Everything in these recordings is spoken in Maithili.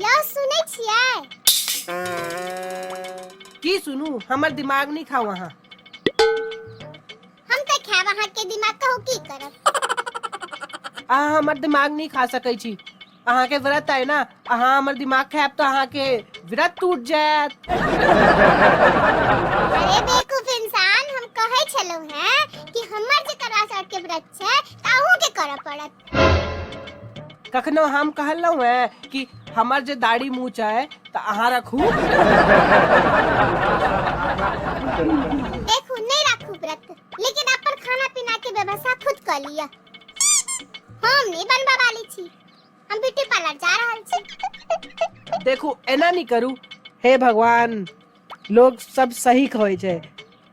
यौ सुनै छियै की सुनू हमर दिमाग नहीं खाओ अहाँ हम तऽ खायब अहाँके दिमाग कहू की करब अहाँ हमर दिमाग नहीं खा सकै छी अहाँके व्रत अइ ना अहाँ हमर दिमाग खायब तऽ अहाँके व्रत टूट जायत अरे बेवकूफ इंसान हम कहै छलहुँ हैं कि हमर जे करवा चौथ के व्रत छै तऽ अहूँ के करऽ पड़त कखनो हम कहलहुँ हैं कि हमर जे दाढ़ी मूछ है तऽ अहाँ रखू देखू नहीं राखू व्रत लेकिन अपन खाना पीना के व्यवस्था खुद कर लिया हम नहीं बनबा वाली छी हम ब्यूटी पार्लर जा रहल छी देखू एना नहीं करू हे भगवान लोक सब सही कहै छै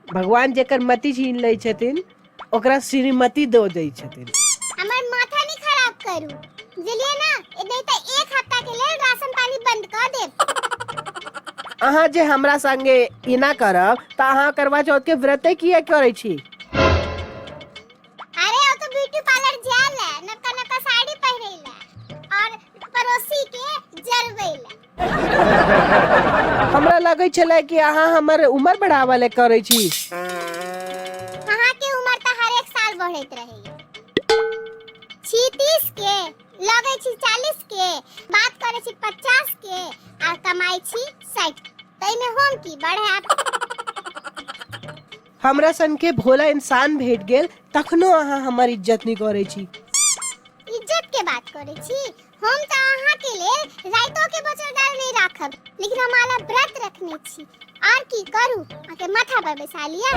भगवान जेकर मति छीन लै छथिन ओकरा श्रीमती दऽ दै छथिन हमर माथा नहीं खराब करू बुझलिए ना नहीं तो एक हफ्ता के लिए राशन पानी बंद कर देब अहाँ जे हमरा संगे एना करब तऽ अहाँ करवा चौथ के व्रते किया करै छी अरे वो तो ब्यूटी पार्लर जाला नका नका साड़ी पहरेला और पड़ोसी के जरबेला हमरा लगै छलै कि अहाँ हमर उम्र बढ़ावा ले करै छी अहाँ के उम्र तऽ हर एक साल बढ़ैत रहैया छी तीस के लगै छी चालीस के बात करै छी पचास के आ कमाई छी साठि ताहिमे हम की बढ़ा हमरा सन के भोला इंसान भेट गेल तखनो अहाँ हमर इज्जत नहीं करै छी इज्जत के बात करै छी हम तऽ अहाँ के लेल राइतो के बचल दाल नहीं राखब लेकिन हम आला व्रत रखने छी आर की करू अहाँ के माथा पर बैसा लिया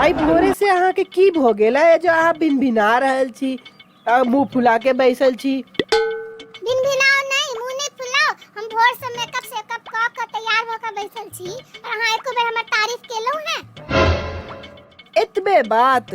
आई भोरे से अहाँ के की भो गेल है जो अहाँ भिनभिना रहल छी आ मुंह फुला के बैसल छी दिन भिनाओ नहीं मुंह नहीं फुलाओ हम भोर से मेकअप सेकअप क के तैयार हो के बैसल छी और अहाँ एको बेर हमर तारीफ केलहुं हैं एतबे बात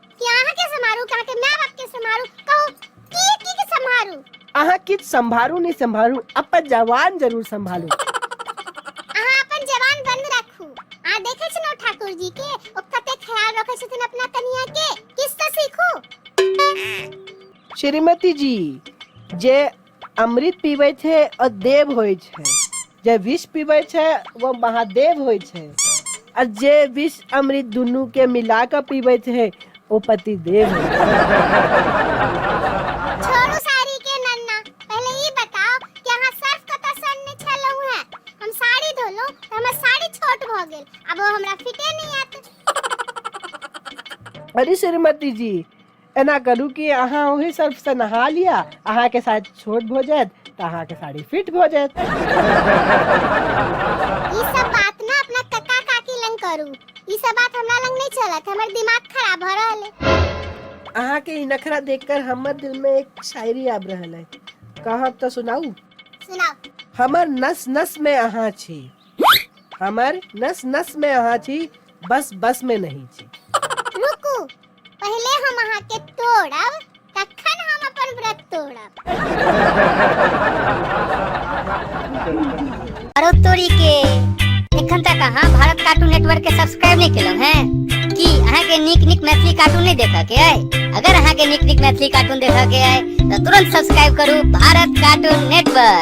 कि अहाँ के समारू कहाँ के माय बाप के समारू कहो की की के समारू अहाँ किछ संभारू नहीं संभारू अपन जवान जरूर संभालू अहाँ अपन जवान बंद रखू आ देखे छी नो ठाकुर जी के ओ कते ख्याल रखे छथिन अपना कनिया के किस से सीखू श्रीमती जी जे अमृत पीबै छै आ देव होइ छै जे विष पीबै छै ओ महादेव होइ छै आ जे विष अमृत दुनू के मिला कऽ पीबै छै ओ पति देव होइ छै छोड़ू साड़ी के नन्ना पहले ई बताओ कि अहाँ सर्फ कतऽ सनने छलहुँ हैं हम साड़ी धोलहुँ तऽ हमर साड़ी छोट भऽ गेल आब ओ हमरा फिटे नहि आयत अरे श्रीमती जी एना करू कि अहाँ ओहि सर्फसँ नहा लिअ अहाँके साइज छोट भऽ जायत तऽ अहाँके साड़ी फिट भऽ जायत ई सब बात ना अपना कका काकी लंग करू ई सब बात हमरा लंग नहीं चलत हमर दिमाग खराब भ रहल है अहाँके ई नखरा देखकर हमर दिल में एक शायरी आब रहल है कहब तऽ सुनाऊ सुनाओ हमर नस नस में अहाँ छी हमर नस नस में अहाँ छी बस बस में नहीं छी रुकू पहले हम अहाँ के तोड़ब तखन हम अपन व्रत तोड़ब अरे तोरी के एखन तक अहाँ भारत कार्टून नेटवर्क के सब्सक्राइब नहीं केलहुँ हैं की अहाँ के नीक नीक मैथिली कार्टून नहीं देखऽ के अइ अगर अहाँ के नीक नीक मैथिली कार्टून देखऽ के अइ तऽ तुरंत सब्सक्राइब करू भारत कार्टून नेटवर्क